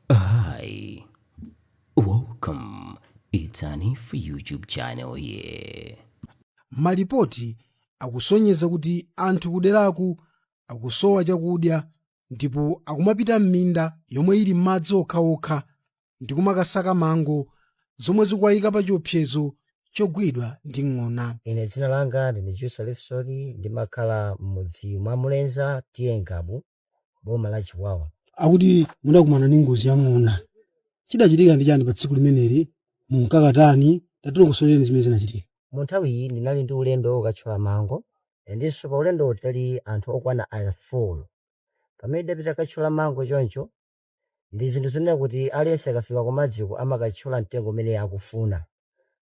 Hi, welcome. It's an if YouTube channel here. malipoti akusonyeza kuti anthu kuderaku akusowa chakudya ndipo akumapita m'minda yomwe ili m'madzi okhaokha ndi kumakasaka mango zomwe zikuwayika pa chiopsezo chogwidwa ndi ng'ona ine dzina langa ndine jusa lifsoni ndimakhala m'mudzi mwa mulenza TA Ngabu boma la Chikwawa akuti mudakumana ndi ngozi ya ng'ona chidachitika ndi chani pa tsiku limeneli munkakatani tatilongosoleni zimene zinachitika mu nthawi iyi ndinali ndi ulendo wokatchola mango ndinso pa ulendowo tinali anthu okwana 4 pamene ndapita katchola mango choncho ndi zinthu zonena kuti aliyense akafika kumadziko amakatchola mtengo umene akufuna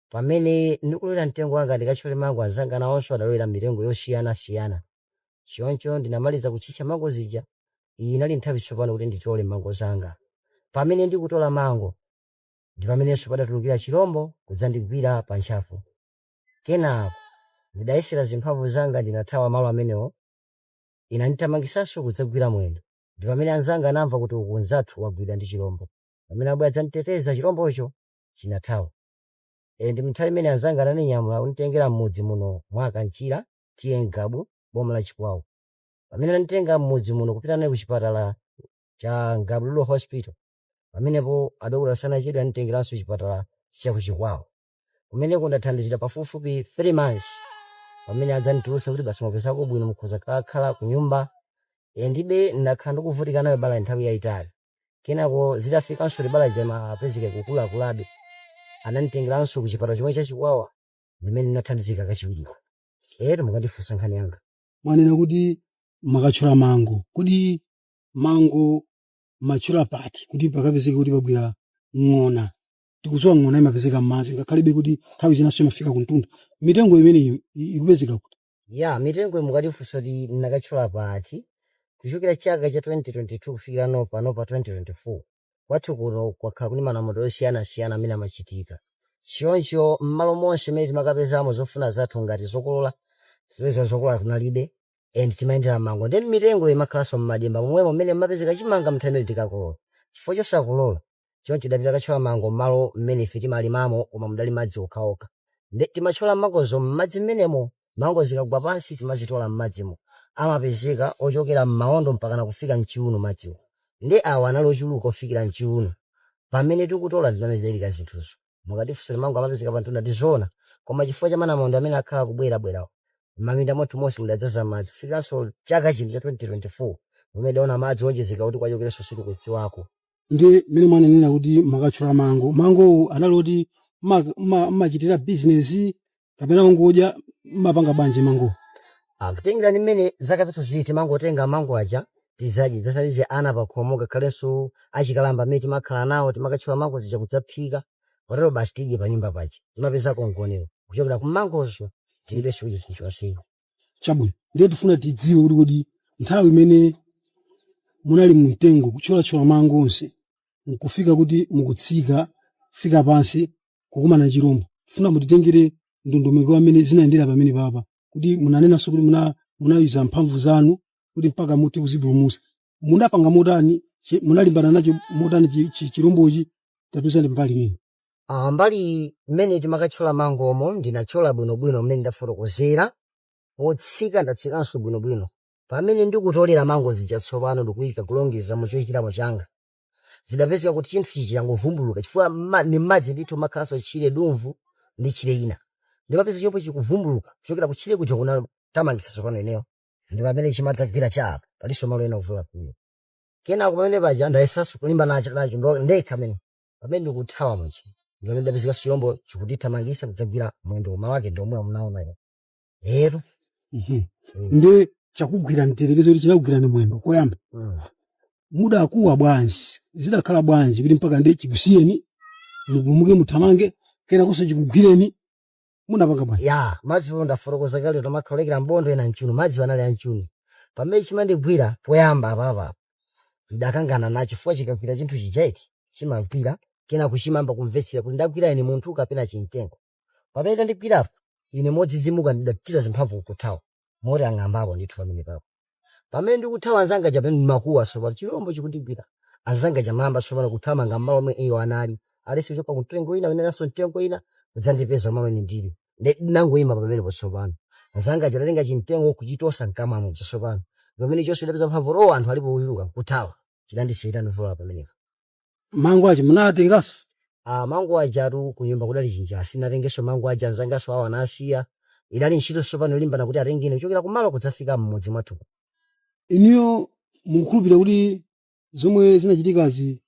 pamene ndikulowera mtengo wanga ndikatchole mango anzanga nawonso adalowera mitengo yosiyanasiyana choncho ndinamaliza kutchicha mango zija iyi inali nthawi tsopano kuti nditole mango zanga pamene ndikutola mango ndi pamenenso padatulukira chilombo kudzandigwira pa ntchafu kenako ndidayesera zimphamvu zanga ndinathawa malo amenewo inandithamangisanso kudzagwira mwendo ndi pamene anzanga anamva kuti uku nzathu wagwidwa ndi chilombo pamene abwera adzanditeteza chilombocho chinathawa e, ndi mnthawi imene anzanga ananinyamula kunditengera m'mudzi muno mwa Kanchira TA N'gabu boma la Chikwawa pamene ananditenga m'mudzi muno kupita naye ku chipatala cha N'gabu Rural Hospital pamenepo adokotala sanachedwe ananditengeranso chipatala cha ku Chikwawa kumeneko ndathandizidwa pafupifupi 3 months pamene adzanditulutsa kuti basi mwapezako bwino mukhoza kakhala ku nyumba e, ndibe ndakhala ndikuvutika nayo bala nthawi yayitali kenako zitafikanso libala jama apezeke kukulakulabe ananditengeranso ku chipatala chomwe cha Chikwawa ndimene ndinathandizika kachiwiriko etu mukandifunsa nkhani yanga mwanena kuti mumakatchola mango kodi mango mumatchola pati kuti pakapezeke kuti pabwera ng'ona tikudziwa ng'ona imapezeka m'madzi ngakhalebe kuti nthawi zinanso imafika kumtunda mitengo imeneyi i- ikupezeka kuti ya mitengo mukandifunsa kuti ndinakatchola pati kuchokera chaka cha 2022 kufikira no pano pa 2024 Kwathu kuno kwakhala kuli manamondwe osiyana-siyana amene amachitika. Choncho m'malo monse mene timakapezamo zofuna zathu ngati zokolola, zipeza zokolola kunalibe and timayendera mmango nde mitengo imakhalanso mmadimba momwemo mmene mmapezeka chimanga mnthawi imene tikakolola chifukwa chosakolola. Choncho tidapita kathyola mango mmalo mmene ife timalimamo koma mudali madzi okhaokha nde timatchola mangozo mmadzi mmenemo. mango zikagwa pansi timazitola mmadzimo madzi amapezeka ochokera mmaondo mpakana kufika mchiuno madziwo ndi awa anali ochuluka ofikira mchiuno pamene tikutola ndipamene zidachitika zinthuzo mukatifunsa kuti mango amapezeka pantunda ndi zoona koma chifukwa cha manamondwe amene akhala akubwera bwerawa mmaminda mwathu monse mudadzaza madzi kufikiranso chaka chino cha 2024 pamene tidaona madzi owonjezereka kuti akuchokeranso sitikudziwako. ndi mmene mwanenera kuti mmakathyola mango mangowo anali oti mmachitira bizinesi kapena kungodya mmapanga bwanji mango kutengera ndi mmene zaka zathu zili timangotenga mango aja tizadye zithandize ana pakhomo ngakhalenso achikalamba amene timakhala nawo timakatchula mango zija kudzaphika potero basi tidye pa nyumba paja timapezako mgonero kuchokera ku mangozo tilibe chakudya chilichonse chabwino ndiye tifuna tidziwe kuti kodi nthawi imene munali mumtengo kuthyolathyola mango onse nkufika kuti mukutsika kufika pansi kukumana na chilombo tifuna mutitengere ndondomeko ya mmene zinayendera pamenepapa kuti munanenanso kuti muna- munayesa mphamvu zanu kuti mpaka muti kuzipulumutsa munapanga motani chi- munalimbana nacho motani chi- chi- chilombochi tatiuzani mbali imeneyi Ah, mbali mmene timakathyola mangomo ndinathyola bwinobwino mmene ndafotokozera potsika ndatsikanso bwinobwino pamene ndikutolera mango zija tsopano ndikuyika kulongeza mu choyikiramo changa zidapezeka kuti chinthu chija changovumbuluka chifukwa mma- ndi mmadzi ndithu mmakhalanso tchire dumvu ndi tchire ina ndimapeza chomwe chikuvumbuluka kuchokera ku tchire kuja kundithamangitsa tsopano ineyo ndi pamene chimadzagwira cha apa palinso malo ena ovulala amene kenako pamene paja ndayesanso kulimbana nacho nacho ndo- ndekha ndiye pamene ndikuthawa muja ndi mmene ndapezeka chilombo chikundithamangitsa kudzagwira mwendo unawo ndi omwe munaona lero Mhm. nde chakugwirani mtiyerekeze kuti chinakugwirani mwendo koyamba mudakuwa bwanji zidakhala bwanji kuti mpakana chikusiyeni mupulumuke muthamange kenakonso chikugwireni munapanga bwanji ya madziwo ndafotokoza kale kuti amakhala olekera mbondo ena mchiuno madzi anali amchiuno pamene chimandigwira poyamba apapa ndidakangana nacho chifukwa chikagwira chinthu chija eti chimagwira kenako chimayamba kumvetsera kuti ndagwira ine munthu kapena chimtengo pamene chandigwirapo ine modzidzimuka ndidachita zimphamvu nkuthawa moti anang'ambapo ndithu pamenepapo pamene ndikuthawa anzanga aja pamene ndimakuwa tsopano chilombo chikundigwira anzanga aja anayamba tsopano kuthamanga mmalo omwe iwo anali eti kuchoka kumtengo kwina amene alinso mtengo wina kudzandipeza mmene ine ndili Ndi- ndinangoyima pamenepo tsopano anzanga aja adatenga chimtengo kuchitosa mkamwa muja tsopano pamene paja ndapeza mphamvu owo anthu alipo kudzuka nkuthawa chidandisiyira ndavulala pamenepo mango aja munatenganso Ah, mango ajatu kunyumba kudali chinjala sindinatengenso mango aja anzanganso awo anasiya idali ntchito tsopano yolimbana kuti atenge ine kuchokera kumalo kudzafika m'mudzi mwathu inuyo mukhulupirira kuti zomwe zinachitikazi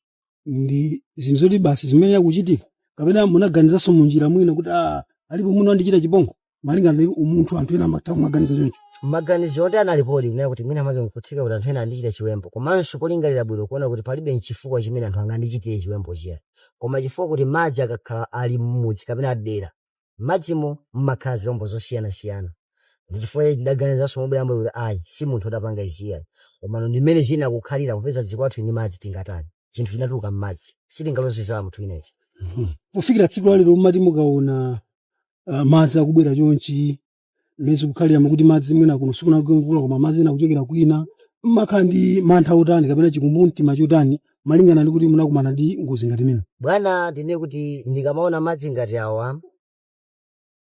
ndi zinthu zoti basi zimayenera kuchitika kapena munaganizanso munjira mwina kuti ah, alipo muno andichita chipongwe malinga ndi umunthu anthu ena amatha kumaganiza choncho maganizo oti analipodi kunena kuti mwina make nkutheka kuti anthu ena andichita chiwembu komanso polingalira bwino kuona kuti palibe nchifukwa chimene anthu angandichitire chiwembu chija koma chifukwa kuti madzi akakhala ali mmudzi kapena adera madzimo mmakhala zilombo zosiyanasiyana ndi chifukwa chake ndidaganizanso mobweramo kuti ayi si munthu odapanga izi ayi komano ndi mmene zinakhalira popeza dziko lathu ndi madzi tingatani chinthu chinatuluka mmadzi sitingaloze zala munthu inechi kufikira tsiku lalero mmati mukaona uh, madzi akubwera chonchi mmene zikukhalira kuti madzi mwina kuno sikunagwe mvula koma madzi ena akuchokera kwina mmakhala ndi mantha otani kapena chikumbumtima chotani malingana ndi kuti munakumana ndi ngozi ngati imene bwana ndine kuti ndikamaona madzi ngati awa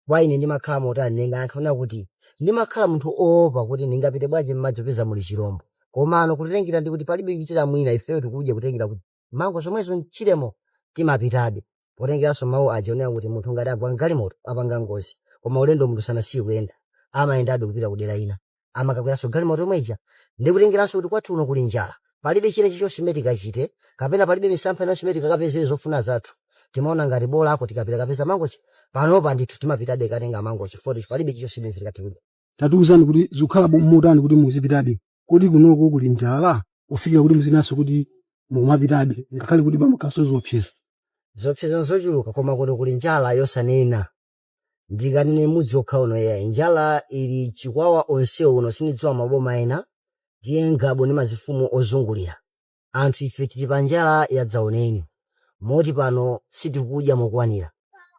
kwa ine ndimakhala motani ndingayankhe kuti ndimakhala munthu oopa kuti ndingapite bwanji mmadzi popeza muli chirombo komano kutengera ndi kuti palibe kuchitira mwina ifeyo tikudya kutengera kuti mango zomwezo mchiremo timapitabe potengeranso mawu aja onena kuti munthu ngati agwa mgalimoto apanga ngozi koma ulendo munthu sanasiye kuyenda amayendabe kupita kudera lina amakakweranso galimoto yomwe ija ndi kutengeranso kuti kwathu uno kuli njala palibe china chichonse chimene tikachite kapena palibe misampha inanso imene tikakapezere zofuna zathu timaona ngati bola uko tikapita kukapeza mangochi panopa ndithu timapitabe katenga mangochi poti palibe chichonse chimene tikatuluka tatiuzani kuti zikukhala bo- motani kuti muzipitabe kodi kunoko kuli njala kufikira kuti muzinanso kuti mukumapitabe ngakhale kuti pamakhalanso ziopsezo zopseza zochuluka koma kuno kuli njala yosanena ndisanene mudzi wokha uno yayi njala ili chikwawa yonse uno sindidziwa maboma ena ndiye ngabo ndi mafumu ozungulira anthu ife tili pa njala yadzaoneni moti pano sitikudya mokwanira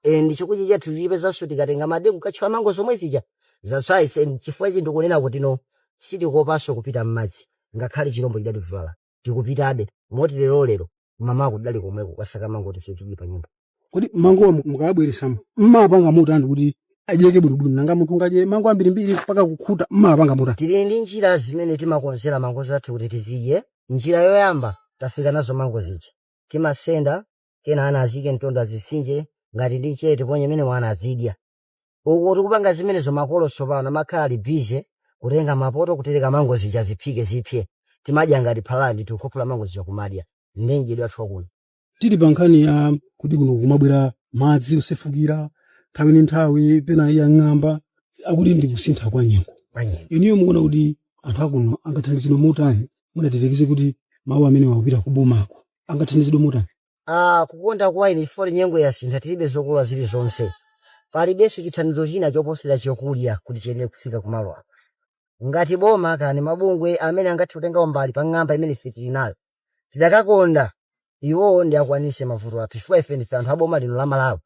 and chakudya chathu tichipezanso tikatenga madengu katchola mango zomwe zija zatswayise and chifukwa ichi ndikunena kuti no sitikopanso kupita m'madzi ngakhale chilombo chidativulaza tikupitabe moti lero lero mmamaku tidali komweko kukasaka mango kuti ife tidye pa nyumba kodi mangowa mu- mukawabweresamo mmapanga motani kuti adyeke bwinobwino nanga munthu ungadye mango ambirimbiri mpaka kukhuta mmapanga motani tili ndi njira zimene timakonzera mango zathu kuti tizidye njira yoyamba tafika nazo mango zija timasenda kenako ana aziike mumtondo azisinje ngati uli mchere tiponyemo ndiye ana azidya uku tikupanga zimenezo makolo tsopano amakhala ali bize kutenga mapoto kutereka mango zija ziphike zipye timadya ngati phala ndi tikukhuthula mango zija kumadya ndiye madyedwe athu akuno tili pa nkhani ya kuti kuno kumabwera madzi osefukira nthawi ndi nthawi pena yang'amba akuti ndi kusintha kwa nyengo Kwanyengo. inuyo mukuona kuti anthu akuno angathandizidwe motani mutati mutumize kuti mawu amene akupita kubomako angathandizidwe motani Ah, kukonda kwa ine chifukwa nyengo yasintha tilibe zokolola zilizonse palibenso chithandizo china choposera chakudya kuti chiyenere kufika kumalo apo ngati boma kaya ni mabungwe amene angathe kutenga mbali pa ng'amba imene ife tili nayo tidakakonda iwowo atikwanise mavuto athu chifukwa ife ndife anthu a boma lino la malawi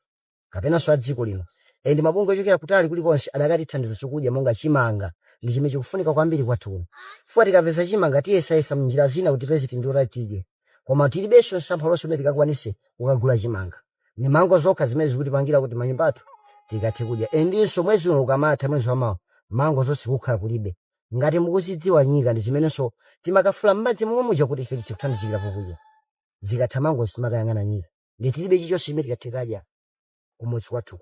kapenanso a dziko lino and mabungwe ochokera kutali kulikonse adakatithandiza chokudya monga chimanga ndi chimene chikufunika kwambiri kwathu kuno chifukwa tikapeza chimanga tiyesayesa mnjira zina kuti tipeze tindiwo tati tidye koma tilibenso msampha ulionse umene tikakwanise kukagula chimanga ni mango zokha zimene zikutipangira kuti m'manyumba athu tikathe kudya endinso mwezi uno ukamatha mwezi wamawa mango zonse kukhala kulibe ngati mukuzidziwa nyika ndi zimenenso timakafula m'madzi momwe muja kuti ife tithe kuthandizikira kukudya zikatha mango zimakayang'ana nyika ndi tilibe chichonse chimene tikathe kadya kumudzi kwathu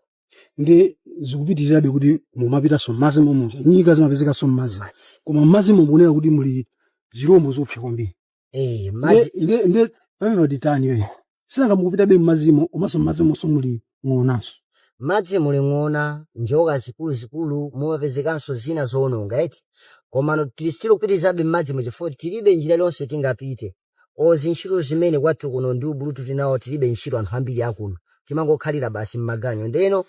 ndi zikupitirirabe kuti mumapitanso m'madzi momuja nyika zimapezekanso m'madzi koma m'madzi momunena kuti muli zirombo zoopsa kwambiri Eh, madzi nde nde pamene watitani iwe sinanga mukupitabe m'madzimo komanso m'madzimonso muli ng'onanso m'madzi muli ng'ona njoka zikuluzikulu mumapezekanso zina zoononga eti komano tili still kupitirizabe m'madzi mu chifukwa tilibe njira iliyonse tingapite olo ntchito zimene kwathu kuno ndi ubulutu tinawo tilibe ntchito anthu ambiri akuno timangokhalira basi m'maganyu ndeno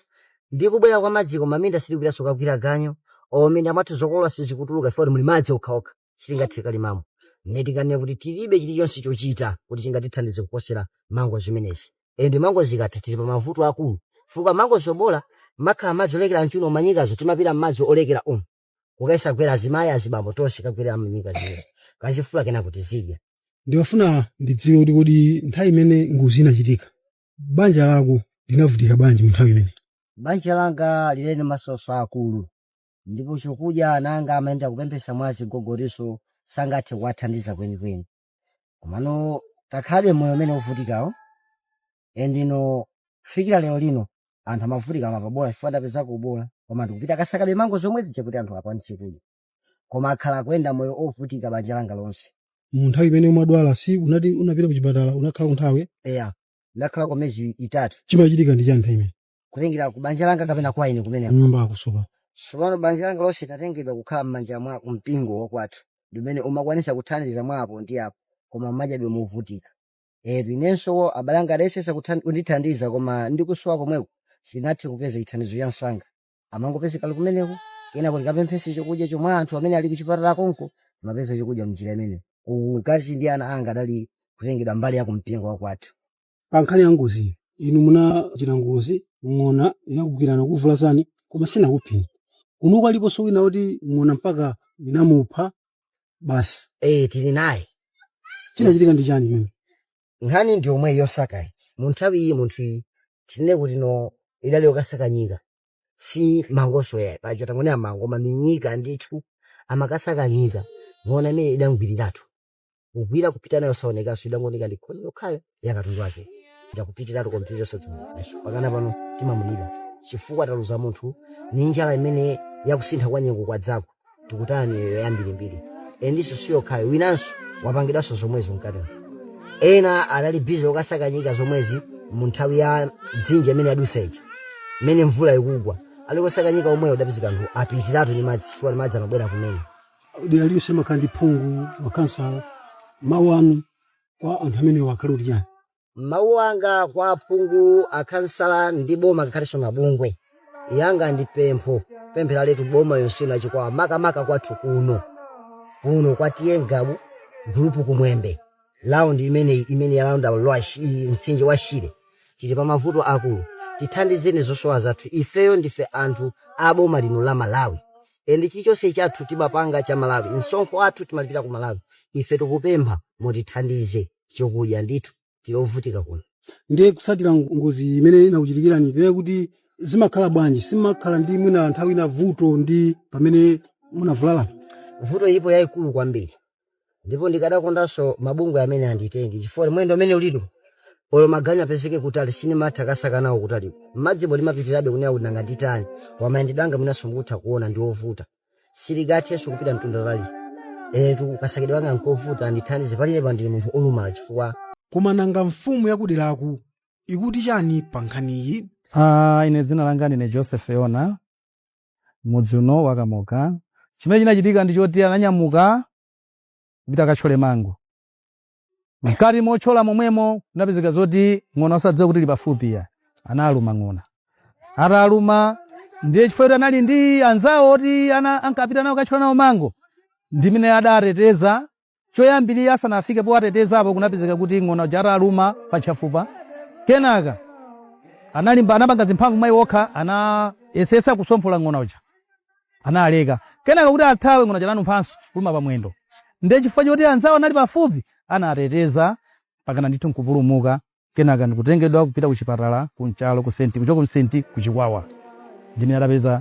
ndi kubwera kwa madziku m'minda sitikupitanso kagwira ganyu m'minda mwathu zokolola sizikutuluka chifukwa kuti muli madzi okhaokha sitingathe kalimamo mmene tikanena kuti tilibe chilichonse chochita kuti chingatithandize kuposera mango zimenezi ende mango zikatha tili pa mavuto akulu chifukwa mango zobola mumakhala madzi olekeza mchiuno manyikazo timapita mmadzi olekeza umu kukayesa gwera azimayi azibambo tonse kagwerera nyika zimenezo kazifula kena kuti tizidya ndimafuna ndidziwe kuti kodi nthawi imene ngozi inachitika banja lako linavutika bwanji mu nthawi imene banja langa linali m'masautso akulu ndipo chokudya ana anga amayenda kupemphetsa mwa azigogo iwonso sangathe kuwathandiza kwenikweni komano takhalabe moyo umene wovutikawo endino kufikira lero lino anthu amavutika amapabola chifukwa tapezako bola koma ndikupita kasakabe mango zomwe zija kuti anthu akwanise kudya koma akhala akuyenda moyo wovutika banja langa lonse mu nthawi imene umadwala si unati unapita ku chipatala unakhalako nthawi eya ndakhala kwa miyezi itatu chimachitika ndi chani nthawi imene kutengera ku banja langa kapena kwa ine kumeneko nyumba yakusowa tsopano banja langa lonse linatengedwa kukhala m'manja mwa mpingo wakwathu ndi umene umakwanisa kuthandiza mwa apo ndi apo koma mwanjabe movutika eti inenso abale anga adayesetsa kuthan- kundithandiza koma ndikusowa komweko sindinathe kupeza chithandizo cha msanga amangopezeka ali kumeneko kenako ndikapemphetse chokudya chomwe anthu amene ali kuchipatala konko amapeza chokudya mnjira imeneyo mkazi ndi ana anga adali kutengedwa mbali ya kumpingo wakwathu pa nkhani ya ngozi inu munachita ngozi ng'ona inakugwirani kuvulazani koma sinakupheni kunoko aliponso wina kuti ng'ona mpaka inamupha basi ee tili naye chinachitika ndi chani mimi nkhani ndi yomweyi yosakayi mu nthawi iyi munthu iyi tinene kuti no idali yokasaka nyika si mangonso yayi paja tangonena mango koma ni nyika ndithu amakasaka nyika ng'ona imene idamgwiriratu kugwira kupita nayo saonekanso idangooneka ndi khoni yokhayo ya katundu wake ndakupitiratu kompyuta osadziwikanso pakana pano timamulira chifukwa taluza munthu ni njala imene yakusintha kwa nyengo kwadzako tikutaya miyoyo yambirimbiri endinso siyokhayo winanso wapangidwanso zomwezo mkatera ena anali bizi okasaka nyika zomwezi mu nthawi ya dzinja imene yadutsa ija imene mvula ikugwa ali kosaka nyika yomweyo kudapezeka anthu apitiratu ni madzi chifukwa ni madzi amabwera kumene dera lililonse limakhala ndi phungu makhansala mawu anu kwa anthu amenewo akhale kuti chani mawu anga kwa aphungu akhansala ndi boma ngakhalenso mabungwe yanga ndi pempho pemphera letu boma yonse ino ya Chikwawa makamaka kwathu kuno kuno kwa TA Ngabu gulupu Kumwembe laundi imeneyi imene yalaunda lwa shi- i- mtsinje wa shire tili pa mavuto akulu tithandizeni zosowa zathu ifeyo ndife anthu a boma lino la malawi and chilichonse chathu timapanga cha Malawi msonkho wathu timalipira ku Malawi ife tikupempha mutithandize chokudya ndithu tilovutika kuno ndiye kutsatira ngozi imene inakuchitikirani ndiye kuti zimakhala bwanji simumakhala ndi mwina nthawi ina vuto ndi pamene munavulala vuto ilipo yayikulu kwambiri ndipo ndikadakondanso mabungwe amene anditenge chifukwa ndi mwendo umenewu ndithu olo maganyu apezeke kutali sinimatha kasaka nawo kutali madzibo ndimapitirabe kunena kuti nanga nditani mayendedwe anga mwinanso mukutha kuona ndi ovuta sindingathenso kupita mtunda wautali etu kasakidwe anga nkovuta andithandize pali inepa ndili munthu olumala chifukwa koma nanga mfumu yakuderaku ikuti chani pa nkhaniyi Ah, ine dzina langa ndine joseph yona m'mudzi uno wa Kamoka. Chimene chinachitika ndi choti ananyamuka kupita akatchole mango. Mkati motchola momwemo kunapezeka zoti ng'ona osadziwa kuti ili pafupi ya analuma ng'ona. Ataluma ndiye chifukwa choti anali ndi anzawo oti ana ankapita nawo kukatchola nawo mango ndimene adateteza Choyambirira asanafike powatetezapo kunapezeka kuti ng'ona uja ataluma pa ntchafupa kenaka analimba anapanga zimphamvu mwa iwo okha anayesetsa kusomphola ng'ona uja analeka kenaka kuti athawe ng'ona uja ananumphanso kuluma pa mwendo ndiye chifukwa choti anzawo anali pafupi anateteza pakana ndithu nkupulumuka kenaka ndikutengedwa kupita ku chipatala ku Nchalo ku senti kuchoka ku senti ku chikwawa ndimene adapeza